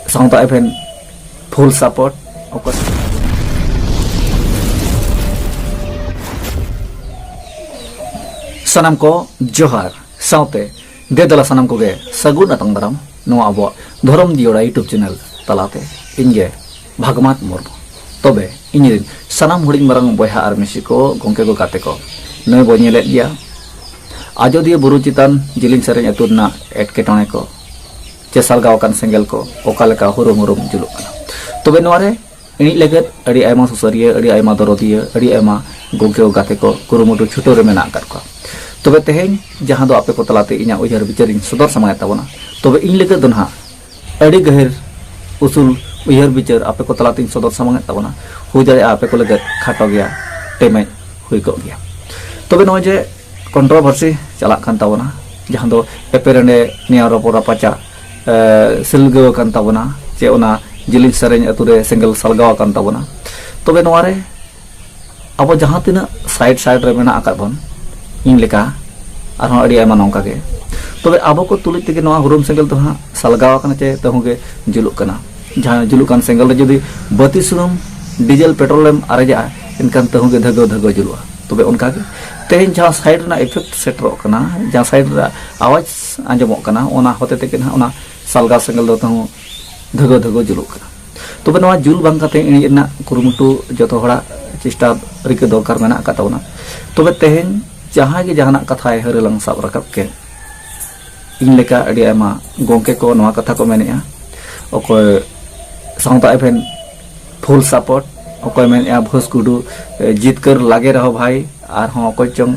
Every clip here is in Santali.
ᱥᱟᱶ ᱫᱚ ᱟᱵᱮᱱ ᱯᱷᱩᱞ ᱥᱟᱯᱳᱨᱴ ᱚᱠᱚᱭ ᱥᱟᱱᱟᱢ ᱠᱚ ᱡᱚᱦᱟᱨ ᱥᱟᱶᱛᱮ ᱫᱮᱫᱟᱞᱟ ᱥᱟᱱᱟᱢ ᱠᱚᱜᱮ ᱥᱟᱹᱜᱩᱱ ᱟᱛᱟᱝ ᱫᱟᱨᱟᱢ ᱱᱚᱣᱟ ᱟᱵᱚᱣᱟᱜ ᱫᱷᱚᱨᱚᱢ ᱡᱤᱭᱚᱲᱟ ᱭᱩᱴᱩᱵᱽ ᱪᱮᱱᱮᱞ ᱛᱟᱞᱟᱛᱮ ᱤᱧᱜᱮ ᱵᱷᱟᱜᱽᱢᱟᱛ ᱢᱩᱨᱢᱩ ᱛᱚᱵᱮ ᱤᱧᱨᱮᱱ ᱥᱟᱱᱟᱢ ᱦᱩᱰᱤᱧ ᱢᱟᱨᱟᱝ ᱵᱚᱭᱦᱟ ᱟᱨ ᱢᱤᱥᱤ ᱠᱚ ᱜᱚᱢᱠᱮ ᱠᱚ ᱜᱟᱛᱮ ᱠᱚ ᱱᱩᱭ ᱵᱚ ᱧᱮᱞᱮᱫ ᱜᱮᱭᱟ ᱟᱡᱚᱫᱤᱭᱟᱹ ᱵᱩᱨᱩ ᱪᱮᱛᱟᱱ ᱡᱤᱞᱤᱧ ᱥᱮᱨᱮᱧ ᱟᱹᱛᱩ ᱨᱮᱱᱟᱜ ᱮᱴᱠᱮᱴᱚᱬᱮ ᱠᱚ ᱪᱮᱥᱟᱞ ᱜᱟᱣ ᱠᱟᱱ ᱥᱮᱸᱜᱮᱞ ᱠᱚ ᱚᱠᱟ ᱞᱮᱠᱟ ᱦᱩᱨᱩᱢ ᱦᱩᱨᱩᱢ ᱡᱩᱞᱩᱜ ᱠᱟᱱᱟ ᱛᱚᱵᱮ ᱱᱚᱣᱟ ᱨᱮ ᱤᱧ ᱞᱟᱹᱜᱤᱫ ᱟᱹᱰᱤ ᱟᱭᱢᱟ ᱥᱩᱥᱟᱹᱨᱤᱭᱟᱹ ᱟᱹᱰᱤ ᱟᱭᱢᱟ ᱫᱚᱨᱚᱫᱤᱭᱟᱹ ᱟᱹᱰᱤ ᱟᱭᱢᱟ ᱜᱚᱜᱮᱣ ᱜᱟᱛᱮ ᱠᱚ ᱠᱩᱨᱩᱢᱩᱴᱩ ᱪᱷᱩᱴᱟᱹᱣ ᱨᱮ ᱢᱮᱱᱟᱜ ᱟᱠᱟᱫ ᱠᱚᱣᱟ ᱛᱚᱵᱮ ᱛᱮᱦᱮᱧ ᱡᱟᱦᱟᱸ ᱫᱚ ᱟᱯᱮ ᱠᱚ ᱛᱟᱞᱟᱛᱮ ᱤᱧᱟᱹᱜ ᱩᱭᱦᱟᱹᱨ ᱵᱤᱪᱟᱹᱨᱤᱧ ᱥᱚᱫᱚᱨ ᱥᱟᱢᱟᱭᱮᱫ ᱛᱟᱵᱚᱱᱟ ᱛᱚᱵᱮ ᱤᱧ ᱞᱟᱹᱜᱤᱫ ᱫᱚ ᱱᱟᱦᱟᱜ ᱟᱹᱰᱤ ᱜᱟᱹᱦᱤᱨ ᱩᱥᱩᱞ ᱩᱭᱦᱟᱹᱨ ᱵᱤᱪᱟᱹᱨ ᱟᱯᱮ ᱠᱚ ᱛᱟᱞᱟᱛᱮᱧ ᱥᱚᱫᱚᱨ ᱥᱟᱢᱟᱝᱮᱫ ᱛᱟᱵᱚᱱᱟ ᱦᱩᱭ ᱫᱟᱲᱮᱭᱟᱜᱼᱟ ᱟᱯᱮ ᱠᱚ ᱞᱟᱹᱜᱤᱫ ᱠᱷᱟᱴᱚ ᱜᱮᱭᱟ ᱴᱮᱢᱮᱡ ᱦᱩᱭ ᱠᱚᱜ ᱜᱮᱭᱟ ᱛᱚᱵᱮ ᱱᱚᱜᱼᱚᱭ ᱡᱮ ᱠᱚᱱᱴᱨᱚᱵᱷᱟᱨᱥᱤ ᱪᱟᱞᱟᱜ ᱠᱟᱱ ᱛᱟᱵᱚᱱᱟ ᱡᱟᱦᱟᱸ ᱫᱚ ᱮᱯᱮᱨᱮᱱᱰᱮ ᱱᱮᱭᱟᱣ ᱨᱚᱯᱚᱲ ᱨᱟᱯᱟᱪᱟ ᱥᱤᱞᱜᱟᱹᱣ ᱟᱠᱟᱱ ᱛᱟᱵᱚᱱᱟ ᱪᱮ ᱚᱱᱟ ᱡᱤᱞᱤᱧ ᱥᱮᱨᱮᱧ ᱟᱛᱳ ᱨᱮ ᱥᱮᱸᱜᱮᱞ ᱥᱟᱞᱜᱟᱣ ᱟᱠᱟᱱ ᱛᱟᱵᱚᱱᱟ ᱛᱚᱵᱮ ᱱᱚᱣᱟ ᱨᱮ ᱟᱵᱚ ᱡᱟᱦᱟᱸ ᱛᱤᱱᱟᱹᱜ ᱥᱟᱭᱤᱰ ᱥᱟᱭᱤᱰ ᱨᱮ ᱢᱮᱱᱟᱜ ᱟᱠᱟᱫ ᱵᱚᱱ ᱤᱧ ᱞᱮᱠᱟ ᱟᱨᱦᱚᱸ ᱟᱹᱰᱤ ᱟᱭᱢᱟ ᱱᱚᱝᱠᱟ ᱜᱮ ᱛᱚᱵᱮ ᱟᱵᱚ ᱠᱚ ᱛᱩᱞᱩᱡ ᱛᱮᱜᱮ ᱱᱚᱣᱟ ᱦᱩᱨᱩᱢ ᱥᱮᱸᱜᱮᱞ ᱫᱚ ᱦᱟᱸᱜ ᱥᱟᱞᱜᱟᱣ ᱟᱠᱟᱱᱟ ᱪᱮ ᱛᱟᱹᱦᱩ ᱜᱮ ᱡᱩᱞᱩᱜ ᱠᱟᱱᱟ ᱡᱟᱦᱟᱸ ᱡᱩᱞᱩᱜ ᱠᱟᱱ ᱥᱮᱸᱜᱮᱞ ᱨᱮ ᱡᱩᱫᱤ ᱵᱟᱹᱛᱤ ᱥᱩᱱᱩᱢ ᱰᱤᱡᱮᱞ ᱯᱮᱴᱨᱳᱞᱮᱢ ᱟᱨᱮᱡᱟᱜᱼᱟ ᱮᱱᱠᱷᱟᱱ ᱛᱟᱹᱦᱩ ᱜᱮ ᱫᱷᱟᱹᱜᱟᱹᱣ ᱫᱷᱟᱹᱜᱟᱹᱣ ᱡᱩᱞᱩᱜᱼᱟ ᱛᱚᱵᱮ ᱚᱱᱠᱟᱜᱮ ᱛᱮᱦᱮᱧ ᱡᱟᱦᱟᱸ ᱥᱟᱭᱤᱰ ᱨᱮᱱᱟᱜ ᱤᱯᱷᱮᱠᱴ ᱥᱮᱴᱮᱨᱚᱜ ᱠᱟᱱᱟ ᱡᱟᱦᱟᱸ ᱥᱟᱭᱤᱰ ᱨᱮᱱᱟᱜ ᱟᱣᱟᱡᱽ ᱟᱸᱡᱚᱢᱚᱜ ᱠᱟᱱᱟ ᱚᱱᱟ ᱦᱚᱛᱮ ᱛᱮᱜᱮ ᱱᱟᱦᱟᱜ ᱚᱱᱟ ᱥᱟᱞᱜᱟ ᱥᱮᱸᱜᱮᱞ ᱫᱚ ᱛᱟᱦᱚᱸ ᱫᱷᱟᱹᱜᱟᱹ ᱫᱷᱟᱹᱜᱟᱹ ᱡᱩᱞᱩᱜ ᱠᱟᱱᱟ ᱛᱚᱵᱮ ᱱᱚᱣᱟ ᱡᱩᱞ ᱵᱟᱝ ᱠᱟᱛᱮ ᱤᱬᱤᱡ ᱨᱮᱱᱟᱜ ᱠᱩᱨᱩᱢᱩᱴᱩ ᱡᱚᱛᱚ ᱦᱚᱲᱟᱜ ᱪᱮᱥᱴᱟ ᱨᱤᱠᱟᱹ ᱫᱚᱨᱠᱟᱨ ᱢᱮᱱᱟᱜ ᱟᱠᱟᱫ ᱛᱟᱵᱚᱱᱟ ᱛᱚᱵᱮ ᱛᱮᱦᱮᱧ ᱡᱟᱦᱟᱸᱭ ᱜᱮ ᱡᱟᱦᱟᱱᱟᱜ ᱠᱟᱛᱷᱟᱭ ᱦᱟᱹᱨᱟᱹᱞᱟᱝ ᱥᱟᱵ ᱨᱟᱠᱟᱵ ᱠᱮᱫ ᱤᱧ ᱞᱮᱠᱟ ᱟᱹᱰᱤ ᱟᱭᱢᱟ ᱜᱚᱝᱠᱮ ᱠᱚ ᱱᱚᱣᱟ ᱠᱟᱛᱷᱟ ᱠᱚ ᱢᱮᱱᱮᱜᱼᱟ ᱚᱠᱚᱭ ᱥᱟᱶᱛᱟ ᱮᱵᱷᱮᱱ ᱯᱷᱩᱞ ᱥᱟᱯᱳᱨᱴ ᱚᱠᱚᱭ ᱢᱮᱱᱮᱜᱼᱟ ᱵᱷᱳᱥ ᱜᱩᱰᱩ ᱡᱤᱛᱠᱟᱹᱨ ᱞᱟᱜᱮ ᱨᱮᱦᱚᱸ ᱵᱷᱟᱭ ᱟᱨᱦᱚᱸ ᱚᱠᱚᱭ ᱪᱚᱝ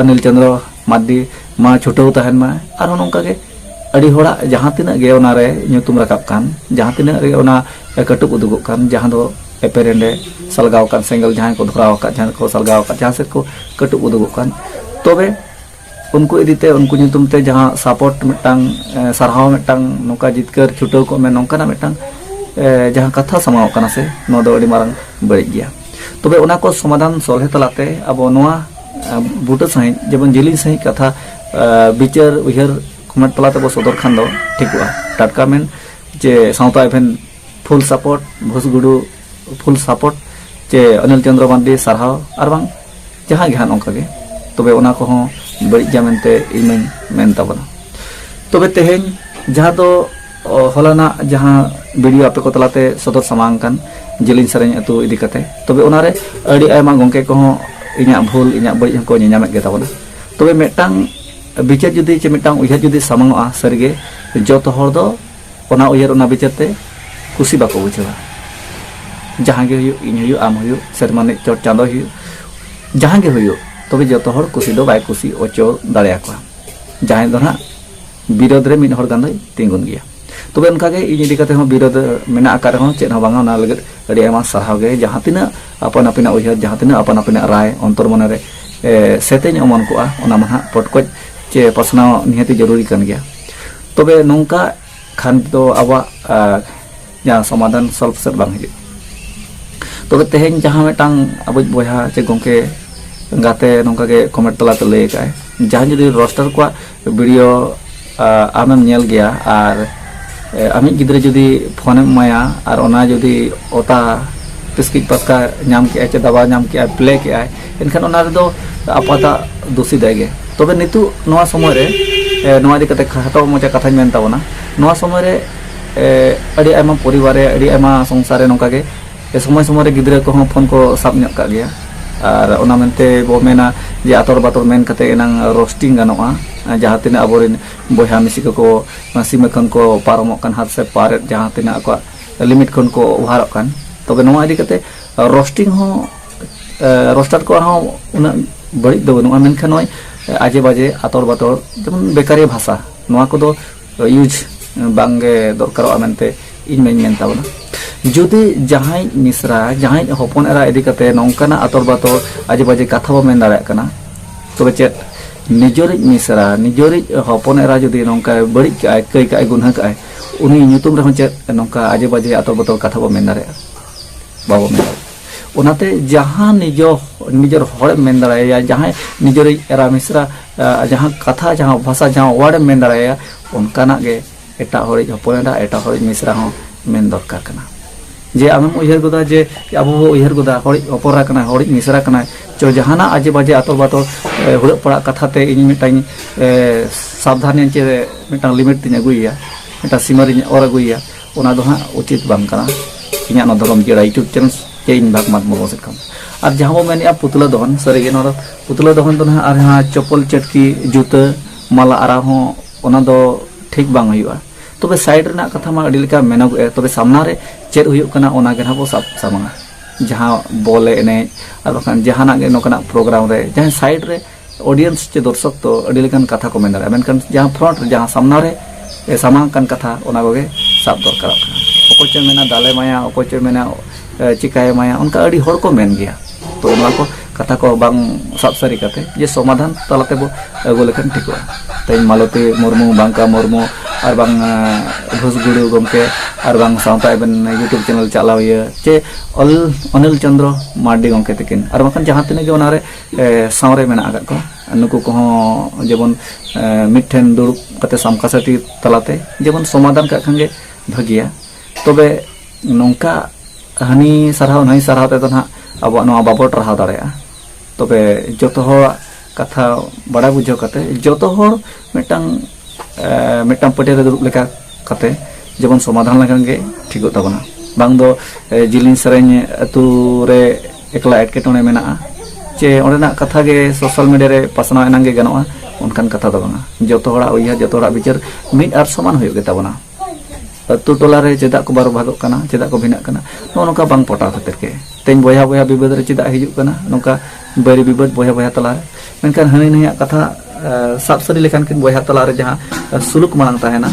ᱚᱱᱤᱞ ᱪᱚᱸᱫᱽᱨᱚ ᱢᱟᱨᱰᱤ ᱢᱟ ᱪᱷᱩᱴᱟᱹᱣ ᱛᱟᱦᱮᱱ ᱢᱟ ᱟᱨᱦᱚᱸ ᱱᱚᱝᱠᱟ ᱜᱮ ᱟᱹᱰᱤ ᱦᱚᱲᱟᱜ ᱡᱟᱦᱟᱸ ᱛᱤᱱᱟᱹᱜ ᱜᱮ ᱚᱱᱟ ᱨᱮ ᱧᱩᱛᱩᱢ ᱨᱟᱠᱟᱵ ᱠᱟᱱ ᱡᱟᱦᱟᱸ ᱛᱤᱱᱟᱹᱜ ᱨᱮ ᱚᱱᱟ ᱠᱟᱹᱴᱩᱵ ᱩᱫᱩᱜᱚᱜ ᱠᱟᱱ ᱡᱟᱦᱟᱸ ᱫᱚ ᱮᱯᱮᱨᱮᱱᱰᱮ ᱥᱟᱞᱜᱟᱣ ᱠᱟᱱ ᱥᱮᱸᱜᱮᱞ ᱡᱟᱦᱟᱸᱭ ᱠᱚ ᱫᱷᱚᱨᱟᱣ ᱟᱠᱟᱫ ᱡᱟᱦᱟᱸᱭ ᱠᱚ ᱥᱟᱞᱜᱟᱣ ᱟᱠᱟᱫ ᱡᱟᱦᱟᱸ ᱥᱮᱫ ᱠᱚ ᱠᱟᱹᱴᱩᱵ ᱩᱫᱩᱜᱚᱜ ᱠᱟᱱ ᱛᱚᱵᱮ ᱩᱱᱠᱩ ᱤᱫᱤᱛᱮ ᱩᱱᱠᱩ ᱧᱩᱛᱩᱢ ᱛᱮ ᱡᱟᱦᱟᱸ ᱥᱟᱯᱳᱨᱴ ᱢᱤᱫᱴᱟᱝ ᱥᱟᱨᱦᱟᱣ ᱢᱤᱫᱴᱟᱝ ᱱᱚᱝᱠᱟ ᱡᱤᱛᱠᱟᱹᱨ ᱪᱷᱩᱴᱟᱹᱣ ᱠᱚᱜ ᱢᱮ ᱱᱚᱝᱠᱟᱱᱟᱜ ᱢᱤᱫᱴᱟᱝ ᱡᱟᱦᱟᱸ ᱠᱟᱛᱷᱟ ᱥᱟᱢᱟᱣ ᱠᱟᱱᱟ ᱥᱮ ᱱᱚᱣᱟ ᱫᱚ ᱟᱹᱰᱤ ᱢᱟᱨᱟᱝ ᱵᱟᱹᱲᱤᱡ ᱜᱮᱭᱟ ᱛᱚᱵᱮ ᱚᱱᱟ ᱠᱚ ᱥᱚᱢᱟᱫᱷᱟᱱ ᱥᱚᱞᱦᱮ ᱛᱟᱞᱟᱛᱮ ᱟᱵᱚ ᱱᱚᱣᱟ ᱵᱩᱴᱟᱹ ᱥᱟᱺᱦᱤᱡ ᱡᱮᱢᱚᱱ ᱡᱤᱞᱤᱧ ᱥᱟᱺᱦᱤᱡ ᱠᱟᱛᱷᱟ ᱵᱤᱪᱟᱹᱨ ᱩᱭᱦᱟᱹᱨ ᱠᱚᱢᱮᱱᱴ ᱛᱟᱞᱟ ᱛᱮᱵᱚ ᱥᱚᱫᱚᱨ ᱠᱷᱟᱱ ᱫᱚ ᱴᱷᱤᱠᱚᱜᱼᱟ ᱴᱟᱴᱠᱟ ᱢᱮᱱ ᱡᱮ ᱥᱟᱶᱛᱟ ᱮᱵᱷᱮᱱ ᱯᱷᱩᱞ ᱥᱟᱯᱳᱨᱴ ᱵᱷᱩᱥᱜᱩᱰᱩ ᱯᱷᱩᱞ ᱥᱟᱯᱳᱨᱴ ᱪᱮ ᱚᱱᱤᱞ ᱪᱚᱱᱫᱨᱚ ᱢᱟᱱᱰᱤ ᱥᱟᱨᱦᱟᱣ ᱟᱨ ᱵᱟᱝ ᱡᱟᱦᱟᱸ ᱜᱮ ᱦᱟᱸᱜ ᱱᱚᱝᱠᱟ ᱜᱮ ᱛᱚᱵᱮ ᱚᱱᱟ ᱠᱚᱦᱚᱸ ᱵᱟᱹᱲᱤᱡ ᱜᱮᱭᱟ ᱢᱮᱱᱛᱮ ᱤᱧ ᱢᱟᱹᱧ ᱢᱮᱱ ᱛᱟᱵᱚᱱᱟ ᱛᱚᱵᱮ ᱛᱮᱦᱮᱧ ᱡᱟᱦᱟᱸ ᱫᱚ ᱦᱚᱞᱟᱱᱟᱜ ᱡᱟᱦᱟᱸ ᱵᱷᱤᱰᱤᱭᱳ ᱟᱯᱮ ᱠᱚ ᱛᱟᱞᱟᱛᱮ ᱥᱚᱫᱚᱨ ᱥᱟᱢᱟᱝ ᱠᱟᱱ ᱡᱮᱞᱤᱧ ᱥᱮᱨᱮᱧ ᱟᱹᱛᱩ ᱤᱫᱤ ᱠᱟᱛᱮ ᱛᱚᱵᱮ ᱚᱱᱟᱨᱮ ᱟᱹᱰᱤ ᱟᱭᱢᱟ ᱜᱚᱝᱠᱮ ᱠᱚᱦᱚᱸ ᱤᱧᱟᱹᱜ ᱵᱷᱩᱞ ᱤᱧᱟᱹᱜ ᱵᱟᱹᱲᱤᱡ ᱦᱚᱸᱠᱚ ᱧᱮᱧᱟᱢᱮᱫ ᱜᱮ ᱛᱟᱵᱚᱱᱟ ᱛᱚᱵᱮ ᱢᱤᱫᱴᱟᱝ ᱵᱤᱪᱟᱹᱨ ᱡᱩᱫᱤ ᱪᱮ ᱢᱤᱫᱴᱟᱝ ᱩᱭᱦᱟᱹᱨ ᱡᱩᱫᱤ ᱥᱟᱢᱟᱝᱚᱜᱼᱟ ᱥᱟᱹᱨᱤᱜᱮ ᱡᱚᱛᱚ ᱦᱚᱲ ᱫᱚ ᱚᱱᱟ ᱩᱭᱦᱟᱹᱨ ᱚᱱᱟ ᱵᱤᱪᱟᱹᱨ ᱛᱮ ᱠᱩᱥᱤ ᱵᱟᱠᱚ ᱵᱩᱡᱷᱟᱹᱣᱟ ᱡᱟᱦᱟᱸ ᱜᱮ ᱦᱩᱭᱩᱜ ᱤᱧ ᱦᱩᱭᱩᱜ ᱟᱢ ᱦᱩᱭᱩᱜ ᱥᱮᱨᱢᱟ ᱨᱤᱱᱤᱡ ᱪᱚᱴ ᱪᱟᱸᱫᱚ ᱦᱩᱭᱩᱜ ᱡᱟᱦᱟᱸ ᱜᱮ ᱦᱩᱭᱩᱜ ᱛᱚᱵᱮ ᱡᱚᱛᱚ ᱦᱚᱲ ᱠᱩᱥᱤ ᱫᱚ ᱵᱟᱭ ᱠᱩᱥᱤ ᱚᱪᱚ ᱫᱟᱲᱮᱭᱟᱠᱚᱣᱟ ᱡᱟᱦᱟᱸᱭ ᱫᱚ ᱱᱟᱜ ᱵᱤᱨᱳᱫᱷ ᱨᱮ ᱢᱤᱫ ᱦᱚᱲ ᱜᱟᱱ ᱫᱚᱭ ᱛᱤᱸᱜᱩᱱ ᱜᱮᱭᱟ ᱛᱚᱵᱮ ᱚᱱᱠᱟ ᱜᱮ ᱤᱧ ᱤᱫᱤ ᱠᱟᱛᱮ ᱦᱚᱸ ᱵᱤᱨᱳᱫᱷ ᱢᱮᱱᱟᱜ ᱟᱠᱟᱫ ᱨᱮᱦᱚᱸ ᱪᱮᱫ ᱦᱚᱸ ᱵᱟᱝᱟ ᱚᱱᱟ ᱞᱟᱹᱜᱤᱫ ᱟᱹᱰᱤ ᱟᱭᱢᱟ ᱥᱟᱨᱦᱟᱣ ᱜᱮ ᱡᱟᱦᱟᱸ ᱛᱤᱱᱟᱹᱜ ᱟᱯᱟᱱ ᱟᱹᱯᱤᱱᱟᱜ ᱩᱭᱦᱟᱹᱨ ᱡᱟᱦᱟᱸ ᱛᱤᱱᱟᱹᱜ ᱟᱯᱟᱱ ᱟᱹᱯᱤᱱᱟᱜ ᱨᱟᱭ ᱚᱱᱛᱚᱨ ᱢᱚᱱᱮ ᱨᱮ ᱥᱮᱛᱮᱧ ᱚᱢᱚᱱ ᱠᱚᱜᱼᱟ ᱚᱱᱟ ᱢᱟ ᱱᱟᱜ ᱯᱚᱴᱠᱚᱡ ᱪᱮ ᱯᱟᱥᱱᱟᱣ ᱱᱤᱦᱟᱹᱛ ᱡᱟᱹᱨᱩᱨᱤ ᱠᱟᱱ ᱜᱮᱭᱟ ᱛᱚᱵᱮ ᱱᱚᱝᱠᱟ ᱠᱷᱟᱱ ᱫᱚ ᱟᱵᱚᱣᱟᱜ ᱡᱟᱦᱟᱸ ᱥᱚᱢᱟᱫᱷᱟᱱ ᱥᱚᱞᱵᱷ ᱥᱮᱫ ᱵᱟᱝ ᱦᱤᱡᱩᱜᱼᱟ ᱛᱚᱵᱮ ᱛᱮᱦᱮᱧ ᱡᱟᱦᱟᱸ ᱢᱤᱫᱴᱟᱝ ᱟᱵᱚᱭᱤᱡ ᱵᱚᱭᱦᱟ ᱪᱮ ᱜᱚᱢᱠᱮ ᱜᱟᱛᱮ ᱱᱚᱝᱠᱟ ᱜᱮ ᱠᱚᱢᱮᱱᱴ ᱛᱟᱞᱟᱛᱮ ᱞᱟᱹᱭ ᱟᱠᱟᱫ ᱟᱭ ᱡᱟᱦᱟᱸ ᱡᱩᱫᱤ ᱨᱚᱥᱴᱟᱨ ᱠᱚᱣᱟᱜ ᱵᱷᱤᱰᱤᱭᱳ ᱟᱢᱮᱢ ᱧᱮᱞ ᱜᱮᱭᱟ ᱟᱨ ᱟᱢᱤᱡ ᱜᱤᱫᱽᱨᱟᱹ ᱡᱩᱫᱤ ᱯᱷᱳᱱᱮᱢ ᱮᱢᱟᱭᱟ ᱟᱨ ᱚᱱᱟ ᱡᱩᱫᱤ ᱚᱛᱟ ᱛᱤᱥᱠᱤᱡ ᱯᱟᱥᱠᱟ ᱧᱟᱢ ᱠᱮᱜᱼᱟᱭ ᱪᱮ ᱫᱟᱵᱟᱣ ᱧᱟᱢ ᱠᱮᱜᱼᱟᱭ ᱯᱞᱮ ᱠᱮᱜᱼᱟᱭ ᱮᱱᱠᱷᱟᱱ ᱚᱱᱟ ᱨᱮᱫᱚ ᱟᱯᱟᱛᱟᱜ ᱫᱩᱥᱤ ᱫᱟᱭ ᱜᱮ ᱛᱚᱵᱮ ᱱᱤᱛᱚᱜ ᱱᱚᱣᱟ ᱥᱚᱢᱚᱭ ᱨᱮ ᱱᱚᱣᱟ ᱤᱫᱤ ᱠᱟᱛᱮ ᱠᱷᱟᱴᱚ ᱢᱚᱪᱟ ᱠᱟᱛᱷᱟᱧ ᱢᱮᱱ ᱛᱟᱵᱚᱱᱟ ᱱᱚᱣᱟ ᱥᱚᱢᱚᱭ ᱨᱮ ᱟᱹᱰᱤ ᱟᱭᱢᱟ ᱯᱚᱨᱤᱵᱟᱨ ᱨᱮ ᱟᱹᱰᱤ ᱟᱭᱢᱟ ᱥᱚᱝᱥᱟᱨ ᱨᱮ ᱱᱚᱝᱠᱟ ᱜᱮ ᱥᱚᱢᱚᱭ ᱥᱚᱢᱚᱭ ᱨᱮ ᱜᱤᱫᱽᱨᱟᱹ ᱠᱚᱦᱚᱸ ᱯᱷᱳᱱ ᱠᱚ ᱥᱟᱵ ᱧᱚᱜ ᱠᱟᱜ ᱜᱮᱭᱟ ᱟᱨ ᱚᱱᱟ ᱢᱮᱱᱛᱮ ᱵᱚ ᱢᱮᱱᱟ ᱡᱮ ᱟᱛᱚᱨ ᱵᱟᱛᱚᱨ ᱢᱮᱱ ᱠᱟᱛᱮ ᱮᱱᱟᱝ ᱨᱳᱥᱴᱤᱝ ᱜᱟᱱᱚᱜᱼᱟ ᱡᱟᱦᱟᱸ ᱛᱤᱱᱟᱹᱜ ᱟᱵᱚᱨᱮᱱ ᱵᱚᱭᱦᱟ ᱢᱤᱥᱤ ᱠᱚᱠᱚ ᱥᱤᱢᱟᱹ ᱠᱷᱚᱱ ᱠᱚ ᱯᱟᱨᱚᱢᱚᱜ ᱠᱟᱱ ᱦᱟᱛ ᱥᱮ ᱯᱟᱨᱮᱫ ᱡᱟᱦᱟᱸ ᱛᱤᱱᱟᱹᱜ ᱟᱠᱚᱣᱟᱜ ᱞᱤᱢᱤᱴ ᱠᱷᱚᱱ ᱠᱚ ᱚᱵᱷᱟᱨᱚᱜ ᱠᱟᱱ ᱛᱚᱵᱮ ᱱᱚᱣᱟ ᱤᱫᱤ ᱠᱟᱛᱮ ᱨᱳᱥᱴᱤᱝ ᱦᱚᱸ ᱨᱳᱥᱴᱟᱨ ᱠᱚᱣᱟᱜ ᱦᱚᱸ ᱩᱱᱟᱹᱜ ᱵᱟᱹᱲᱤᱡ ᱫᱚ ᱵᱟᱹᱱᱩᱜᱼᱟ ᱢᱮᱱᱠᱷᱟᱱ ᱱᱚᱜᱼᱚᱭ ᱟᱡᱮ ᱵᱟᱡᱮ ᱟᱛᱚᱲ ᱵᱟᱛᱚᱲ ᱡᱮᱢᱚᱱ ᱵᱮᱠᱟᱨᱤ ᱵᱷᱟᱥᱟ ᱱᱚᱣᱟ ᱠᱚᱫᱚ ᱤᱭᱩᱡᱽ ᱵᱟᱝᱜᱮ ᱫᱚᱨᱠᱟᱨᱚᱜᱼᱟ ᱢᱮᱱᱛᱮ ᱤᱧ ᱢᱟᱹᱧ ᱢᱮᱱ ᱛᱟᱵᱚᱱᱟ ᱡᱩᱫᱤ ᱡᱟᱦᱟᱸᱭ ᱢᱤᱥᱨᱟ ᱡᱟᱦᱟᱸᱭ ᱦᱚᱯᱚᱱ ᱮᱨᱟ ᱤᱫᱤ ᱠᱟᱛᱮ ᱱᱚᱝᱠᱟᱱᱟᱜ ᱟᱛᱚᱲ ᱵᱟᱛᱚᱲ ᱟᱡᱮ ᱵᱟᱡᱮ ᱠᱟᱛᱷᱟ ᱵᱚ ᱢᱮᱱ ᱫᱟᱲᱮᱭᱟᱜ ᱠᱟᱱᱟ ᱛᱚᱵᱮ ᱪᱮᱫ ᱱᱤᱡᱚᱨᱤᱡ ᱢᱤᱥᱨᱟ ᱱᱤᱡᱚᱨᱤᱡ ᱦᱚᱯᱚᱱ ᱮᱨᱟ ᱡᱩᱫᱤ ᱱᱚᱝᱠᱟ ᱵᱟᱹᱲᱤᱡ ᱠᱟᱜᱼᱟᱭ ᱠᱟᱹᱭ ᱠᱟᱜᱼᱟᱭ ᱜᱩᱱᱦᱟᱹ ᱠᱟᱜᱼᱟᱭ ᱩᱱᱤ ᱧᱩᱛᱩᱢ ᱨᱮᱦᱚᱸ ᱪᱮᱫ ᱱᱚᱝᱠᱟ ᱟᱡᱮ ᱵᱟᱡᱮ ᱟᱛᱚᱲ ᱵᱟᱛᱚᱲ ᱠᱟᱛᱷᱟ ᱵᱚ ᱢᱮᱱ ᱫᱟᱲᱮᱭᱟᱜᱼᱟ ᱵᱟᱵᱚ ᱢᱮᱱ ᱫᱟᱲᱮᱭᱟᱜᱼᱟ ᱚᱱᱟᱛᱮ ᱡᱟᱦᱟᱸ ᱱᱤᱡᱚ ᱱᱤᱡᱚᱨ ᱦᱚᱲ ᱢᱮᱱ ᱫᱟᱲᱮᱭᱟᱭᱟ ᱡᱟᱦᱟᱸᱭ ᱱᱤᱡᱚᱨ ᱮᱨᱟ ᱢᱤᱥᱨᱟ ᱡᱟᱦᱟᱸ ᱠᱟᱛᱷᱟ ᱡᱟᱦᱟᱸ ᱵᱷᱟᱥᱟ ᱡᱟᱦᱟᱸ ᱣᱟᱨᱰ ᱢᱮᱱ ᱫᱟᱲᱮᱭᱟᱭᱟ ᱚᱱᱠᱟᱱᱟᱜ ᱜᱮ ᱮᱴᱟᱜ ᱦᱚᱲᱤᱡ ᱦᱚᱯᱚᱱ ᱮᱨᱟ ᱮᱴᱟᱜ ᱦᱚᱲᱤᱡ ᱢᱤᱥᱨᱟ ᱦᱚᱸ ᱢᱮᱱ ᱫᱚᱨᱠᱟর ᱠᱟᱱᱟ ᱡᱮ ᱟᱢᱮᱢ ᱩᱭᱦᱟᱹᱨ ᱜᱚᱫᱟ ᱡᱮ ᱟᱵᱚ ᱵᱚ ᱩᱭᱦᱟᱹᱨ ᱜᱚᱫᱟ ᱦᱚᱲᱤᱡ ᱦᱚᱯᱚᱱ ᱠᱟᱱᱟᱭ ᱦᱚᱲᱤᱡ ᱢᱤᱥᱨᱟ ᱠᱟᱱᱟᱭ ᱪᱚ ᱡᱟᱦᱟᱱᱟᱜ ᱟᱡᱮ ᱵᱟᱡᱮ ᱟᱛᱚ ᱵᱟᱛᱚ ᱦᱩᱲᱟᱹᱜ ᱯᱟᱲᱟᱜ ᱠᱟᱛᱷᱟ ᱛᱮ ᱤᱧ ᱢᱤᱫᱴᱟᱝ ᱥᱟᱵᱫᱷᱟᱱᱤᱧ ᱪᱮ ᱢᱤᱫᱴᱟᱝ ᱞᱤᱢᱤᱴ ᱛᱤᱧ ᱟᱹᱜᱩᱭᱮᱭᱟ ᱢᱤᱫᱴᱟᱝ ᱥᱤᱢᱟᱹ ᱨᱤᱧ ᱚᱨ ᱟᱹᱜᱩᱭᱮᱭᱟ ᱚᱱᱟ ᱫᱚ ᱦᱟᱸᱜ ᱩᱪᱤᱛ ᱵᱟᱝ ᱠᱟᱱᱟ ᱤᱧᱟᱹᱜ ᱱᱚᱣᱟ ᱫᱷᱚᱨᱚᱢ ᱡᱤᱭᱟᱹᱲᱟ ᱤᱭᱩᱴᱩᱵᱽ ᱪᱮᱱᱮᱞ ᱪᱮ ᱤᱧ ᱵᱟᱜᱽ ᱢᱟᱛ ᱢᱩᱨᱢᱩ ᱥᱮᱫ ᱠᱷᱚᱱ ᱟᱨ ᱡᱟᱦᱟᱸ ᱵᱚ ᱢᱮᱱᱮᱫᱼᱟ ᱯᱩᱛᱞᱟᱹ ᱫᱚᱦᱚᱱ ᱥᱟᱹᱨᱤᱜᱮ ᱱᱚᱣᱟ ᱫᱚ ᱯᱩᱛᱞᱟᱹ ᱫᱚᱦᱚᱱ ᱫᱚ ᱱᱟᱦᱟᱜ ᱟᱨ ᱡᱟᱦᱟᱸ ᱪᱚᱯᱚᱞ ᱪᱟᱹᱴᱠᱤ ᱡᱩᱛᱟᱹ ᱢᱟᱞᱟ ᱟᱨᱟᱣ ᱦᱚᱸ ᱚᱱᱟ ᱫᱚ ᱴᱷᱤᱠ ᱵᱟᱝ ᱦᱩᱭᱩᱜᱼᱟ ᱛᱚᱵᱮ ᱥᱟᱭᱤᱰ ᱨᱮᱱᱟᱜ ᱠᱟᱛᱷᱟ ᱢᱟ ᱟᱹᱰᱤ ᱞᱮᱠᱟ ᱢᱮᱱᱚᱜᱚᱜᱼᱟ ᱛᱚᱵᱮ ᱥᱟᱢᱱᱟ ᱨᱮ ᱪᱮᱫ ᱦᱩᱭᱩᱜ ᱠᱟᱱᱟ ᱚᱱᱟ ᱜᱮ ᱱᱟᱦᱟᱜ ᱵᱚ ᱥᱟᱵ ᱥᱟᱢᱟᱝᱟ ᱡᱟᱦᱟᱸ ᱵᱚᱞ ᱮᱱᱮᱡ ᱟᱨ ᱵᱟᱠᱷᱟᱱ ᱡᱟᱦᱟᱱᱟᱜ ᱜᱮ ᱱᱚᱝᱠᱟᱱᱟᱜ ᱯᱨᱳᱜᱨᱟᱢ ᱨᱮ ᱡᱟᱦᱟᱸ ᱥᱟᱭᱤᱰ ᱨᱮ ᱚᱰᱤᱭᱮᱱᱥ ᱪᱮ ᱫᱚᱨᱥᱚᱠ ᱫᱚ ᱟᱹᱰᱤ ᱞᱮᱠᱟᱱ ᱠᱟᱛᱷᱟ ᱠᱚ ᱢᱮᱱ ᱫᱟᱲᱮᱭᱟᱜᱼᱟ ᱢᱮᱱᱠᱷᱟᱱ ᱡᱟᱦᱟᱸ ᱯᱷᱨᱚᱱᱴ ᱨᱮ ᱡᱟᱦᱟᱸ ᱥᱟᱢᱱᱟ ᱨᱮ ᱥᱟᱢᱟᱝ ᱠᱟᱱ ᱠᱟᱛᱷᱟ ᱚᱱᱟ ᱠᱚᱜᱮ ᱥᱟᱵ ᱫᱚᱨᱠᱟᱨᱚᱜ ᱠᱟᱱᱟ ᱚᱠᱚᱭ ᱪᱚᱭ ᱢᱮᱱᱟ ᱫᱟᱞᱮ ᱢᱟᱭᱟ ᱚᱠᱚᱭ ᱪᱚᱭ ᱢᱮᱱᱟ ᱪᱤᱠᱟᱭ ᱢᱟᱭᱟ ᱚᱱᱠᱟ ᱟᱹᱰᱤ ᱦᱚᱲ ᱠᱚ ᱢᱮᱱ ᱜᱮᱭᱟ ᱛᱚ ᱚᱱᱟ ᱠᱚ ᱠᱟᱛᱷᱟ ᱠᱚ ᱵᱟᱝ ᱥᱟᱵ ᱥᱟᱹᱨᱤ ᱠᱟᱛᱮ ᱡᱮ ᱥᱚᱢᱟᱫᱷᱟᱱ ᱛᱟᱞᱟ ᱛᱮᱵᱚ ᱟᱹᱜᱩ ᱞᱮᱠᱷᱟᱱ ᱴᱷᱤᱠᱚᱜᱼᱟ ᱛᱮᱦᱮᱧ ᱢᱟᱞᱚᱛᱤ ᱢᱩᱨᱢᱩ ᱵᱟᱝᱠᱟ ᱢᱩᱨᱢᱩ ᱟᱨ ᱵᱟᱝ ᱜᱷᱩᱥᱜᱩᱲᱩ ᱜᱚᱢᱠᱮ ᱟᱨ ᱵᱟᱝ ᱥᱟᱶᱛᱟ ᱮᱵᱮᱱ ᱤᱭᱩᱴᱩᱵᱽ ᱪᱮᱱᱮᱞ ᱪᱟᱞᱟᱣᱤᱭᱟᱹ ᱪᱮ ᱚᱞ ᱚᱱᱤᱞ ᱪᱚᱱᱫᱨᱚ ᱢᱟᱨᱰᱤ ᱜᱚᱢᱠᱮ ᱛᱟᱹᱠᱤᱱ ᱟᱨ ᱵᱟᱝᱠᱷᱟᱱ ᱡᱟᱦᱟᱸ ᱛᱤᱱᱟᱹᱜ ᱜᱮ ᱚᱱᱟᱨᱮ ᱥᱟᱶᱨᱮ ᱢᱮᱱᱟᱜ ᱟᱠᱟᱫ ᱠᱚᱣᱟ ᱱᱩᱠᱩ ᱠᱚᱦᱚᱸ ᱡᱮᱢᱚᱱ ᱢᱤᱫᱴᱷᱮᱱ ᱫᱩᱲᱩᱵ ᱠᱟᱛᱮ ᱥᱟᱢᱠᱟᱥᱟᱴᱤ ᱛᱟᱞᱟᱛᱮ ᱡᱮᱢᱚᱱ ᱥᱚᱢᱟᱫᱷᱟᱱ ᱠᱟᱜ ᱠᱷᱟᱱ ᱜᱮ ᱵᱷᱟᱹᱜᱤᱭᱟ ᱛᱚᱵᱮ ᱱᱚᱝᱠᱟ ᱦᱟᱹᱱᱤ ᱥᱟᱨᱦᱟᱣ ᱱᱟᱹᱭ ᱥᱟᱨᱦᱟᱣ ᱛᱮᱫᱚ ᱱᱟᱦᱟᱜ ᱟᱵᱚᱣᱟᱜ ᱱᱚᱣᱟ ᱵᱟᱵᱚ ᱴᱟᱨᱦᱟᱣ ᱫᱟᱲᱮᱭᱟᱜᱼᱟ ᱛᱚᱵᱮ ᱡᱚᱛᱚ ᱦᱚᱲᱟᱜ ᱠᱟᱛᱷᱟ ᱵᱟᱲᱟᱭ ᱵᱩᱡᱷᱟᱹᱣ ᱠᱟᱛᱮ ᱡᱚᱛᱚ ᱦᱚᱲ ᱢᱤᱫᱴᱟᱝ ᱢᱤᱫᱴᱟᱝ ᱯᱟᱹᱴᱭᱟᱹ ᱨᱮ ᱫᱩᱲᱩᱵ ᱞᱮᱠᱟ ᱠᱟᱛᱮ ᱡᱮᱢᱚᱱ ᱥᱚᱢᱟᱫᱷᱟᱱ ᱞᱮᱠᱷᱟᱱ ᱜᱮ ᱴᱷᱤᱠᱚᱜ ᱛᱟᱵᱚᱱᱟ ᱵᱟᱝ ᱫᱚ ᱡᱤᱞᱤᱧ ᱥᱮᱨᱮᱧ ᱟᱹᱛᱩ ᱨᱮ ᱮᱠᱞᱟ ᱮᱴᱠᱮᱴᱚᱬᱮ ᱢᱮᱱᱟᱜᱼᱟ ᱪᱮ ᱚᱸᱰᱮᱱᱟᱜ ᱠᱟᱛᱷᱟ ᱜᱮ ᱥᱳᱥᱟᱞ ᱢᱤᱰᱤᱭᱟ ᱨᱮ ᱯᱟᱥᱱᱟᱣ ᱮᱱᱟᱝ ᱜᱮ ᱜᱟᱱᱚᱜᱼᱟ ᱚᱱᱠᱟᱱ ᱠᱟᱛᱷᱟ ᱫᱚ ᱵᱟᱝᱟ ᱡᱚᱛᱚ ᱦᱚᱲᱟᱜ ᱩᱭᱦᱟᱹᱨ ᱡᱚᱛᱚ ᱦᱚᱲᱟᱜ ᱵᱤᱪᱟᱹᱨ ᱢᱤᱫ ᱟᱨ ᱥᱚᱢᱟᱱ ᱦᱩᱭᱩᱜ ᱜᱮᱛᱟᱵᱚᱱᱟ ᱟᱹᱛᱩ ᱴᱚᱞᱟ ᱨᱮ ᱪᱮᱫᱟᱜ ᱠᱚ ᱵᱟᱨᱚ ᱵᱷᱟᱜᱚᱜ ᱠᱟᱱᱟ ᱪᱮᱫᱟᱜ ᱠᱚ ᱵᱷᱤᱱᱟᱜ ᱠᱟᱱᱟ ᱱᱚᱜᱼᱚ ᱱᱚᱝᱠᱟ ᱵᱟᱝ ᱯᱚᱴᱟᱣ ᱠᱷᱟᱹᱛᱤᱨ ᱜᱮ ᱛᱮᱦᱮᱧ ᱵᱚᱭᱦᱟ ᱵᱚᱭᱦᱟ ᱵᱤᱵᱟᱹᱫ ᱨᱮ ᱪᱮᱫᱟᱜ ᱦᱤᱡᱩᱜ ᱠᱟᱱᱟ ᱱᱚᱝᱠᱟ ᱵᱟᱹᱨᱤ ᱵᱤᱵᱟᱹᱫ ᱵᱚᱭᱦᱟ ᱵᱚᱭᱦᱟ ᱛᱟᱞᱟ ᱨᱮ ᱢᱮᱱᱠᱷᱟᱱ ᱦᱟᱹᱱᱤ ᱱᱟᱹᱭᱟᱜ ᱠᱟᱛᱷᱟ ᱥᱟᱵ ᱥᱟᱹᱨᱤ ᱞᱮᱠᱷᱟᱱ ᱠᱤᱱ ᱵᱚᱭᱦᱟ ᱛᱟᱞᱟ ᱨᱮ ᱡᱟᱦᱟᱸ ᱥᱩᱞᱩᱠ ᱢᱟᱲᱟᱝ ᱛᱟᱦᱮᱱᱟ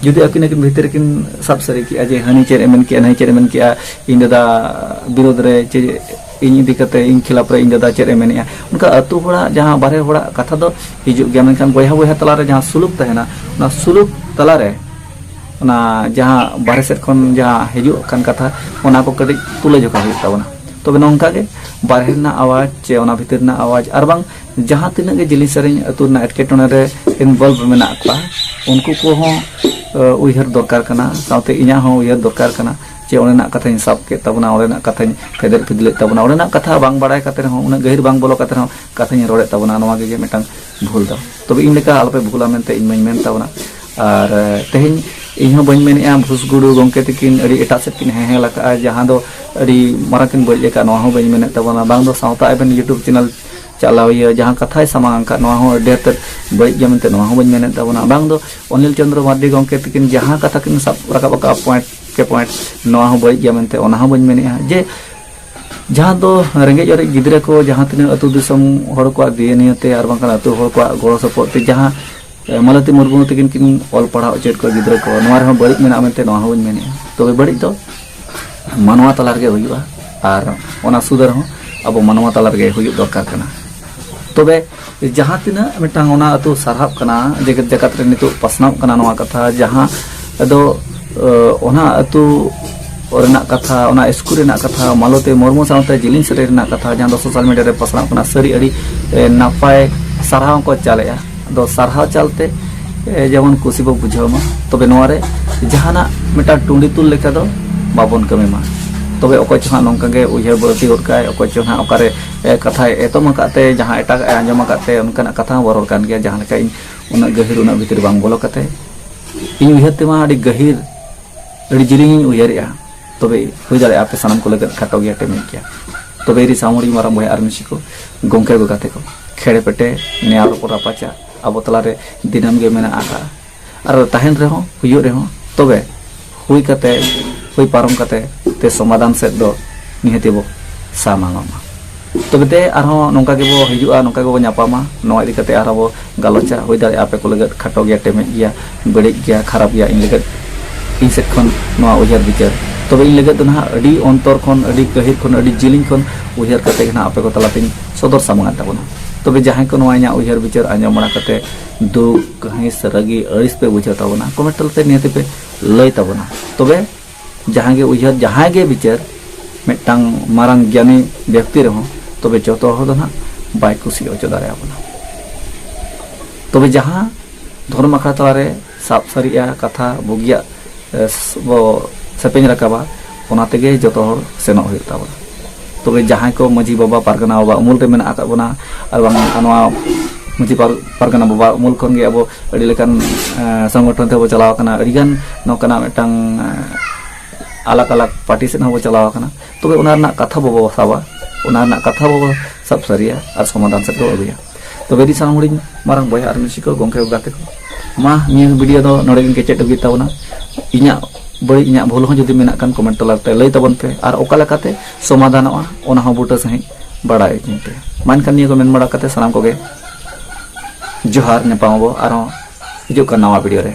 ᱡᱩᱫᱤ ᱟᱹᱠᱤᱱ ᱟᱹᱠᱤᱱ ᱵᱷᱤᱛᱤᱨ ᱠᱤᱱ ᱥᱟᱵ ᱥᱟᱹᱨᱤ ᱠᱮᱜᱼᱟ ᱡᱮ ᱦᱟᱹᱱᱤ ᱪᱮᱫ ᱮ ᱢᱮᱱ ᱠᱮᱜᱼᱟ ᱱᱟᱹᱭ ᱪᱮᱫ ᱮ ᱢᱮᱱ ᱠᱮᱜᱼᱟ ᱤᱧ ᱫᱟᱫᱟ ᱵᱤᱨᱳᱫ ᱨᱮ ᱪᱮ ᱤᱧ ᱤᱫᱤ ᱠᱟᱛᱮ ᱤᱧ ᱠᱷᱤᱞᱟᱯ ᱨᱮ ᱤᱧ ᱫᱟᱫᱟ ᱪᱮᱫ ᱮ ᱢᱮᱱᱮᱜᱼᱟ ᱚᱱᱠᱟ ᱟᱹᱛᱩ ᱦᱚᱲᱟᱜ ᱡᱟᱦᱟᱸ ᱵᱟᱨᱦᱮ ᱦᱚᱲᱟᱜ ᱠᱟᱛᱷᱟ ᱫᱚ ᱦᱤᱡᱩᱜ ᱜᱮᱭᱟ ᱢᱮᱱᱠᱷᱟᱱ ᱵᱚᱭᱦᱟ ᱵᱚᱭᱦᱟ ᱛᱟᱞᱟ ᱨᱮ ᱡᱟᱦᱟᱸ ᱥᱩᱞᱩᱠ ᱛᱟᱦᱮᱱᱟ ᱚᱱᱟ ᱥᱩᱞᱩᱠ ᱛᱟᱞᱟ ᱨᱮ ᱚᱱᱟ ᱡᱟᱦᱟᱸ ᱵᱟᱨᱦᱮ ᱥᱮᱫ ᱠᱷᱚᱱ ᱡᱟᱦᱟᱸ ᱦᱤᱡᱩᱜ ᱠᱟᱱ ᱠᱟᱛᱷᱟ ᱚᱱᱟ ᱠᱚ ᱠᱟᱹᱴᱤᱡ ᱛᱩᱞᱟᱹ ᱡᱚᱠᱷᱟ ᱦᱩᱭᱩᱜ ᱛᱟᱵᱚᱱᱟ ᱛᱚᱵᱮ ᱱᱚᱝᱠᱟ ᱜᱮ ᱵᱟᱨᱦᱮ ᱨᱮᱱᱟᱜ ᱟᱣᱟᱡᱽ ᱪᱮ ᱚᱱᱟ ᱵᱷᱤᱛᱤᱨ ᱨᱮᱱᱟᱜ ᱟᱣᱟᱡᱽ ᱟᱨ ᱵᱟᱝ ᱡᱟᱦᱟᱸ ᱛᱤᱱᱟᱹᱜ ᱜᱮ ᱡᱤᱞᱤᱧ ᱥᱟᱹᱨᱤᱧ ᱟᱹᱛᱩ ᱨᱮᱱᱟᱜ ᱮᱴᱠᱮᱴᱚᱬᱮ ᱨᱮ ᱤᱱᱵᱚᱞᱵᱷ ᱢᱮᱱᱟᱜ ᱠᱚᱣᱟ ᱩᱱᱠᱩ ᱠᱚᱦᱚᱸ ᱩᱭᱦᱟᱹᱨ ᱫᱚᱨᱠᱟᱨ ᱠᱟᱱᱟ ᱥᱟᱶᱛᱮ ᱤᱧᱟᱹᱜ ᱦᱚᱸ ᱩᱭᱦᱟᱹᱨ ᱫᱚᱨᱠᱟᱨ ᱠᱟᱱᱟ ᱡᱮ ᱚᱸᱰᱮᱱᱟᱜ ᱠᱟᱛᱷᱟᱧ ᱥᱟᱵ ᱠᱮᱫ ᱛᱟᱵᱚᱱᱟ ᱚᱸᱰᱮᱱᱟᱜ ᱠᱟᱛᱷᱟᱧ ᱯᱷᱮᱫᱮᱫ ᱯᱷᱤᱫᱞᱮᱫ ᱛᱟᱵᱚᱱᱟ ᱚᱸᱰᱮᱱᱟᱜ ᱠᱟᱛᱷᱟ ᱵᱟᱝ ᱵᱟᱲᱟᱭ ᱠᱟᱛᱮ ᱨᱮᱦᱚᱸ ᱩᱱᱟᱹᱜ ᱜᱟᱹᱦᱤᱨ ᱵᱟᱝ ᱵᱚᱞᱚ ᱠᱟᱛᱮ ᱨᱮᱦᱚᱸ ᱠᱟᱛᱷᱟᱧ ᱨᱚᱲᱮᱫ ᱛᱟᱵᱚᱱᱟ ᱱᱚᱣᱟ ᱜᱮ ᱢᱤᱫᱴᱟᱝ ᱵᱷᱩᱞ ᱫᱚ ᱛᱚᱵᱮ ᱤᱧ ᱞᱮᱠᱟ ᱟᱞᱚᱯᱮ ᱵᱷᱩᱞᱟ ᱢᱮᱱᱛᱮ ᱤᱧ ᱢᱟᱧ ᱢᱮᱱ ᱛᱟᱵᱚᱱᱟ ᱟᱨ ᱛᱮᱦᱮᱧ ᱤᱧ ᱦᱚᱸ ᱵᱟᱹᱧ ᱢᱮᱱᱮᱜᱼᱟ ᱵᱷᱩᱥ ᱜᱩᱰᱩ ᱜᱚᱝᱠᱮ ᱛᱤᱠᱤᱱ ᱟᱹᱰᱤ ᱮᱴᱟᱜ ᱥᱮᱫ ᱠᱤᱱ ᱦᱮᱦᱮᱞ ᱟᱠᱟᱜᱼᱟ ᱡᱟᱦᱟᱸ ᱫᱚ ᱟᱹᱰᱤ ᱢᱟᱨᱟᱝ ᱠᱤᱱ ᱵᱟᱹᱲᱤᱡ ᱟᱠᱟᱫ ᱱᱚᱣᱟ ᱦᱚᱸ ᱵᱟᱹᱧ ᱢᱮᱱᱮᱫ ᱛᱟᱵᱚᱱᱟ ᱵᱟᱝ ᱫᱚ ᱥᱟᱶᱛᱟ ᱟᱵᱮᱱ ᱤᱭᱩᱴᱩᱵᱽ ᱪᱮᱱᱮᱞ ᱪᱟᱞᱟᱣᱤᱭᱟᱹ ᱡᱟᱦᱟᱸ ᱠᱟᱛᱷᱟᱭ ᱥᱟᱢᱟᱝ ᱟᱠᱟᱫ ᱱᱚᱣᱟ ᱦᱚᱸ ᱟᱹᱰᱤ ᱛᱮᱫ ᱵᱟᱹᱲᱤᱡ ᱜᱮᱭᱟ ᱢᱮᱱᱛᱮ ᱱᱚᱣᱟ ᱦᱚᱸ ᱵᱟᱹᱧ ᱢᱮᱱᱮᱫ ᱛᱟᱵᱚᱱᱟ ᱵᱟᱝ ᱫᱚ ᱚᱱᱤᱞ ᱪᱚᱱᱫᱨᱚ ᱢᱟᱨᱰᱤ ᱜᱚᱢᱠᱮ ᱛᱤᱠᱤᱱ ᱡᱟᱦᱟᱸ ᱠᱟᱛᱷᱟ ᱠᱤᱱ ᱥᱟᱵ ᱨᱟᱠᱟᱵ ᱟᱠᱟᱫ ᱯᱚᱭᱮᱱᱴ ᱠᱮ ᱯᱚᱭᱮᱱᱴ ᱱᱚᱣᱟ ᱦᱚᱸ ᱵᱟᱹᱲᱤᱡ ᱜᱮᱭᱟ ᱢᱮᱱᱛᱮ ᱚᱱᱟ ᱦᱚᱸ ᱵᱟᱹᱧ ᱢᱮᱱᱮᱫᱼᱟ ᱡᱮ ᱡᱟᱦᱟᱸ ᱫᱚ ᱨᱮᱸᱜᱮᱡ ᱚᱨᱮᱡ ᱜᱤᱫᱽᱨᱟᱹ ᱠᱚ ᱡᱟᱦᱟᱸ ᱛᱤᱱᱟᱹᱜ ᱟᱹᱛᱩ ᱫᱤᱥᱚᱢ ᱦᱚᱲ ᱠᱚᱣᱟᱜ ᱫᱮᱭᱟ ᱱᱤᱭᱟᱹᱛᱮ ᱟᱨ ᱵᱟᱝᱠᱷᱟᱱ ᱟᱹᱛᱩ ᱦᱚᱲ ᱠᱚᱣᱟᱜ ᱜᱚᱲᱚ ᱥᱚᱯᱚᱦᱚᱫ ᱛᱮ ᱡᱟᱦᱟᱸ ᱢᱟᱞᱚᱛᱤ ᱢᱩᱨᱢᱩ ᱛᱟᱹᱠᱤᱱ ᱠᱤᱱ ᱚᱞ ᱯᱟᱲᱦᱟᱣ ᱦᱚᱪᱚᱭᱮᱫ ᱠᱚᱣᱟ ᱜᱤᱫᱽᱨᱟᱹ ᱠᱚ ᱱᱚᱣᱟ ᱨᱮᱦᱚᱸ ᱵᱟᱹᱲᱤᱡ ᱢᱮᱱᱟᱜᱼᱟ ᱢᱮᱱᱛᱮ ᱱᱚᱣᱟ ᱦᱚᱸ ᱵᱟᱹᱧ ᱢᱮᱱᱮᱫᱼᱟ ᱛᱚᱵᱮ ᱵᱟᱹᱲᱤᱡ ᱫᱚ ᱢᱟᱱᱣᱟ ᱛᱟᱞᱟ ᱨᱮᱜᱮ ᱦᱩᱭᱩᱜᱼᱟ ᱟᱨ ᱚᱱᱟ ᱥᱩᱫᱷᱟᱹᱨ ᱦᱚᱸ ᱟᱵᱚ ᱢᱟᱱᱣᱟ ᱛᱟᱞᱟ ᱨᱮᱜᱮ ᱦᱩᱭᱩᱜ ᱫᱚᱨᱠᱟᱨ ᱠᱟᱱᱟ ᱛᱚᱵᱮ ᱡᱟᱦᱟᱸ ᱛᱤᱱᱟᱹᱜ ᱢᱤᱫᱴᱟᱝ ᱚᱱᱟ ᱟᱹᱛᱩ ᱥᱟᱨᱦᱟᱣ ᱠᱟᱱᱟ ᱡᱮᱜᱮᱛ ᱡᱟᱠᱟᱛ ᱨᱮ ᱱᱤᱛᱚᱜ ᱯᱟᱥᱱᱟᱣᱚᱜ ᱠᱟᱱᱟ ᱱᱚᱣᱟ ᱠᱟᱛᱷᱟ ᱡᱟᱦᱟᱸ ᱟᱫᱚ ᱚᱱᱟ ᱟᱹᱛᱩ ᱨᱮᱱᱟᱜ ᱠᱟᱛᱷᱟ ᱚᱱᱟ ᱥᱠᱩᱞ ᱨᱮᱱᱟᱜ ᱠᱟᱛᱷᱟ ᱢᱟᱞᱚᱛᱤ ᱢᱩᱨᱢᱩ ᱥᱟᱶᱛᱮ ᱡᱤᱞᱤᱧ ᱥᱟᱹᱨᱤ ᱨᱮᱱᱟᱜ ᱠᱟᱛᱷᱟ ᱡᱟᱦᱟᱸ ᱫᱚ ᱥᱳᱥᱟᱞ ᱢᱤᱰᱤᱭᱟ ᱨᱮ ᱯᱟᱥᱱᱟᱜ ᱠᱟᱱᱟ ᱥᱟᱹᱨᱤ ᱟᱹᱰᱤ ᱱᱟᱯᱟᱭ ᱥᱟᱨᱦᱟᱣ ᱠᱚ ᱪᱟᱞᱮᱜᱼᱟ ᱟᱫᱚ ᱥᱟᱨᱦᱟᱣ ᱪᱟᱞᱛᱮ ᱡᱮᱢᱚᱱ ᱠᱩᱥᱤ ᱵᱚ ᱵᱩᱡᱷᱟᱹᱣ ᱢᱟ ᱛᱚᱵᱮ ᱱᱚᱣᱟ ᱨᱮ ᱡᱟᱦᱟᱱᱟᱜ ᱢᱤᱫᱴᱟᱝ ᱴᱩᱸᱰᱤ ᱛᱩᱞ ᱞᱮᱠᱟ ᱫᱚ ᱵᱟᱵᱚᱱ ᱠᱟᱹᱢᱤ ᱢᱟ ᱛᱚᱵᱮ ᱚᱠᱚᱭ ᱪᱚ ᱦᱟᱸᱜ ᱱᱚᱝᱠᱟ ᱜᱮ ᱩᱭᱦᱟᱹᱨ ᱵᱟᱹᱲᱛᱤ ᱜᱚᱫ ᱠᱟᱭ ᱚᱠᱚᱭ ᱪᱚ ᱦᱟᱸᱜ ᱚᱠᱟᱨᱮ ᱠᱟᱛᱷᱟᱭ ᱮᱛᱚᱢ ᱟᱠᱟᱫ ᱛᱮ ᱡᱟᱦᱟᱸ ᱮᱴᱟᱜ ᱮ ᱟᱸᱡᱚᱢ ᱟᱠᱟᱫ ᱛᱮ ᱚᱱᱠᱟᱱᱟᱜ ᱠᱟᱛᱷᱟ ᱦᱚᱸ ᱵᱚ ᱨᱚᱲ ᱠᱟᱱ ᱜᱮᱭᱟ ᱡᱟᱦᱟᱸ ᱞᱮᱠᱟ ᱤᱧ ᱩᱱᱟᱹᱜ ᱜᱟᱹᱦᱤᱨ ᱩᱱᱟᱹᱜ ᱵᱷᱤᱛᱤᱨ ᱵᱟᱝ ᱵᱚᱞᱚ ᱠᱟᱛᱮ ᱤᱧ ᱩᱭᱦᱟᱹᱨ ᱛᱮᱢᱟ ᱟᱹᱰᱤ ᱜᱟᱹᱦᱤᱨ ᱟᱹᱰᱤ ᱡᱤᱞᱤᱧᱤᱧ ᱩᱭᱦᱟᱹᱨᱮᱜᱼᱟ ᱛᱚᱵᱮ ᱦᱩᱭ ᱫᱟᱲᱮᱭᱟᱜᱼᱟ ᱟᱯᱮ ᱥᱟᱱᱟᱢ ᱠᱚ ᱞᱟᱹᱜᱤᱫ ᱠᱷᱟᱴᱚ ᱜᱮᱭᱟ ᱴᱮᱢᱤᱡ ᱜᱮᱭᱟ ᱛᱚᱵᱮ ᱤᱨᱤ ᱥᱟᱶᱲᱤ ᱢᱟᱨᱟᱝ ᱵᱚᱭᱦᱟ ᱟᱨ ᱢᱤᱥᱤ ᱠᱚ ᱜᱚᱢᱠᱮ ᱠᱚ ᱜᱟᱛᱮ ᱠᱚ ᱠᱷᱮᱲᱮ ᱯᱮᱴᱮ ᱱᱮᱭᱟᱣ ᱨᱚᱯᱚᱲ ᱨᱟᱯᱟᱪᱟ ᱟᱵᱚ ᱛᱟᱞᱟᱨᱮ ᱫᱤᱱᱟᱹᱢ ᱜᱮ ᱢᱮᱱᱟᱜ ᱟᱠᱟᱫᱼᱟ ᱟᱨ ᱛᱟᱦᱮᱱ ᱨᱮᱦᱚᱸ ᱦᱩᱭᱩᱜ ᱨᱮᱦᱚᱸ ᱛᱚᱵᱮ ᱦᱩᱭ ᱠᱟᱛᱮ ᱦᱩᱭ ᱯᱟᱨᱚᱢ ᱠᱟᱛᱮ ᱛᱮ ᱥᱚᱢᱟᱫᱷᱟᱱ ᱥᱮᱫ ᱫᱚ ᱱᱤᱦᱟᱹᱛᱤ ᱵᱚ ᱥᱟᱢᱟᱝᱚᱜ ᱢᱟ ᱛᱚᱵᱮ ᱛᱮ ᱟᱨᱦᱚᱸ ᱱᱚᱝᱠᱟ ᱜᱮᱵᱚ ᱦᱤᱡᱩᱜᱼᱟ ᱱᱚᱝᱠᱟ ᱜᱮᱵᱚ ᱧᱟᱯᱟᱢᱟ ᱱᱚᱣᱟ ᱤᱫᱤ ᱠᱟᱛᱮ ᱟᱨᱦᱚᱸ ᱵᱚ ᱜᱟᱞᱚᱪᱟ ᱦᱩᱭ ᱫᱟᱲᱮᱭᱟᱜᱼᱟ ᱟᱯᱮ ᱠᱚ ᱞᱟᱹᱜᱤᱫ ᱠᱷᱟᱴᱚ ᱜᱮᱭᱟ ᱴᱮᱢᱮᱡ ᱜᱮᱭᱟ ᱵᱟᱹᱲᱤᱡ ᱜᱮᱭᱟ ᱠᱷᱟᱨᱟᱯ ᱜᱮᱭᱟ ᱤᱧ ᱞᱟᱹᱜᱤᱫ ᱤᱧ ᱥᱮᱫ ᱠᱷᱚᱱ ᱱᱚᱣᱟ ᱩᱭᱦᱟᱹᱨ ᱵᱤᱪᱟᱹᱨ ᱛᱚᱵᱮ ᱤᱧ ᱞᱟᱹᱜᱤᱫ ᱫᱚ ᱱᱟᱦᱟᱜ ᱟᱹᱰᱤ ᱚᱱᱛᱚᱨ ᱠᱷᱚᱱ ᱟᱹᱰᱤ ᱜᱟᱹᱦᱤᱨ ᱠᱷᱚᱱ ᱟᱹᱰᱤ ᱡᱤᱞᱤᱧ ᱠᱷᱚᱱ ᱩᱭᱦᱟᱹᱨ ᱠᱟᱛᱮ ᱜᱮ ᱱᱟᱦᱟᱜ ᱟᱯᱮ ᱠᱚ ᱛᱟᱞᱟᱛᱤᱧ ᱥᱚᱫᱚᱨ ᱥᱟᱢᱟᱝ ᱛᱟᱵᱚᱱᱟ ᱛᱚᱵᱮ ᱡᱟᱦᱟᱸᱭ ᱠᱚ ᱱᱚᱣᱟ ᱤᱧᱟᱹᱜ ᱩᱭᱦᱟᱹᱨ ᱵᱤᱪᱟᱹᱨ ᱟᱸᱡᱚᱢ ᱵᱟᱲᱟ ᱠᱟᱛᱮ ᱫᱩᱠ ᱠᱟᱹᱦᱤᱥ ᱨᱟᱹᱜᱤ ᱟᱹᱲᱤᱥ ᱯᱮ ᱵᱩᱡᱷᱟᱹᱣ ᱛᱟᱵᱚᱱᱟ ᱠᱚᱢᱮᱱᱴ ᱛᱟᱞᱟᱛᱮ ᱱᱤᱦᱟᱹᱛᱤ ᱯᱮ ᱞᱟᱹᱭ ᱛᱟᱵᱚᱱᱟ ᱛᱚᱵᱮ ᱡᱟᱦᱟᱸ ᱜᱮ ᱩᱭᱦᱟᱹᱨ ᱡᱟᱦᱟᱸᱭ ᱜᱮ ᱵᱤᱪᱟᱹᱨ ᱢᱤᱫᱴᱟᱝ ᱢᱟᱨᱟᱝ ᱜᱮᱭᱟᱱᱤ ᱵᱮᱠᱛᱤ ᱨᱮᱦᱚᱸ ᱛᱚᱵᱮ ᱡᱚᱛᱚ ᱦᱚᱲ ᱫᱚ ᱱᱟᱜ ᱵᱟᱭ ᱠᱩᱥᱤ ᱦᱚᱪᱚ ᱫᱟᱲᱮᱭᱟᱵᱚᱱᱟ ᱛᱚᱵᱮ ᱡᱟᱦᱟᱸ ᱫᱷᱚᱨᱚᱢ ᱟᱠᱷᱲᱟ ᱛᱟᱞᱟᱨᱮ ᱥᱟᱵ ᱥᱟᱹᱨᱤᱜᱼᱟ ᱠᱟᱛᱷᱟ ᱵᱩᱜᱤᱭᱟᱜ ᱵᱚ ᱥᱮᱯᱮᱧ ᱨᱟᱠᱟᱵᱟ ᱚᱱᱟ ᱛᱮᱜᱮ ᱡᱚᱛᱚ ᱦᱚᱲ ᱥᱮᱱᱚᱜ ᱦᱩᱭᱩᱜ ᱛᱟᱵᱚᱱᱟ ᱛᱚᱵᱮ ᱡᱟᱦᱟᱸᱭ ᱠᱚ ᱢᱟᱹᱡᱷᱤ ᱵᱟᱵᱟ ᱯᱟᱨᱜᱟᱱᱟ ᱵᱟᱵᱟ ᱩᱢᱩᱞ ᱨᱮ ᱢᱮᱱᱟᱜ ᱟᱠᱟᱫ ᱵᱚᱱᱟ ᱟᱨ ᱵᱟᱝ ᱱᱚᱣᱟ ᱢᱟᱹᱡᱷᱤ ᱯᱟᱨᱜᱟᱱᱟ ᱵᱟᱵᱟ ᱩᱢᱩᱞ ᱠᱷᱚᱱ ᱜᱮ ᱟᱵᱚ ᱟᱹᱰᱤ ᱞᱮᱠᱟᱱ ᱥᱚᱝᱜᱚᱴᱷᱚᱱ ᱛᱮᱵᱚ ᱪᱟᱞᱟᱣ ᱟᱠᱟᱱᱟ ᱟᱹᱰᱤ ᱜᱟᱱ ᱱᱚᱝᱠᱟᱱᱟᱜ ᱢᱤᱫᱴᱟᱝ ᱟᱞᱟᱜ ᱟᱞᱟᱜ ᱯᱟᱨᱴᱤ ᱥᱮᱫ ᱦᱚᱸᱵᱚ ᱪᱟᱞᱟᱣ ᱟᱠᱟᱱᱟ ᱛᱚᱵᱮ ᱚᱱᱟ ᱨᱮᱱᱟᱜ ᱠᱟᱛᱷᱟ ᱵᱟᱵᱚ ᱥᱟᱵᱟ ᱚᱱᱟ ᱨᱮᱱᱟᱜ ᱠᱟᱛᱷᱟ ᱵᱟᱵᱚ ᱥᱟᱵ ᱥᱟᱹᱨᱤᱭᱟ ᱟᱨ ᱥᱚᱢᱟᱫᱷᱟᱱ ᱥᱮᱫ ᱵᱚ ᱟᱹᱜᱩᱭᱟ ᱛᱚᱵᱮ ᱟᱹᱰᱤ ᱥᱟᱱᱟᱢ ᱦᱩᱰᱤᱧ ᱢᱟᱨᱟᱝ ᱵᱚᱭᱦᱟ ᱟᱨ ᱢᱤᱥᱤ ᱠᱚ ᱜᱚᱢᱠᱮ ᱠᱚ ᱜᱟᱛᱮ ᱠᱚ ᱢᱟ ᱱᱤᱭᱟᱹ ᱵᱷᱤᱰᱤᱭᱳ ᱫᱚ ᱱᱚᱰᱮ ᱜᱮ ᱠᱮᱪᱮᱫ ᱟᱹᱜᱩᱭ ᱛᱟᱵᱚᱱᱟ ᱤᱧᱟᱹᱜ ᱵᱟᱹᱲᱤᱡ ᱤᱧᱟᱹᱜ ᱵᱷᱩᱞ ᱦᱚᱸ ᱡᱩᱫᱤ ᱢᱮᱱᱟᱜ ᱠᱟᱱ ᱠᱚᱢᱮᱱᱴ ᱛᱟᱞᱟ ᱨᱮ ᱞᱟᱹᱭ ᱛᱟᱵᱚᱱ ᱯᱮ ᱟᱨ ᱚᱠᱟ ᱞᱮᱠᱟᱛᱮ ᱥᱚᱢᱟᱫᱷᱟᱱᱚᱜᱼᱟ ᱚᱱᱟ ᱦᱚᱸ ᱵᱩᱴᱟᱹ ᱥᱟᱺᱦᱤᱡ ᱵᱟᱲᱟᱭ ᱦᱚᱪᱚᱧ ᱯᱮ ᱢᱟ ᱮᱱᱠᱷᱟᱱ ᱱᱤᱭᱟᱹ ᱠᱚ ᱢᱮᱱ ᱵᱟᱲᱟ ᱠᱟᱛᱮ ᱥᱟᱱᱟᱢ ᱠᱚᱜᱮ ᱡᱚᱦᱟᱨ ᱧᱟᱯᱟᱢ ᱟᱵᱚ ᱟᱨᱦᱚᱸ ᱦᱤᱡᱩᱜ ᱠᱟᱱ ᱱᱟᱣᱟ ᱵᱷᱤᱰᱤᱭᱳ ᱨᱮ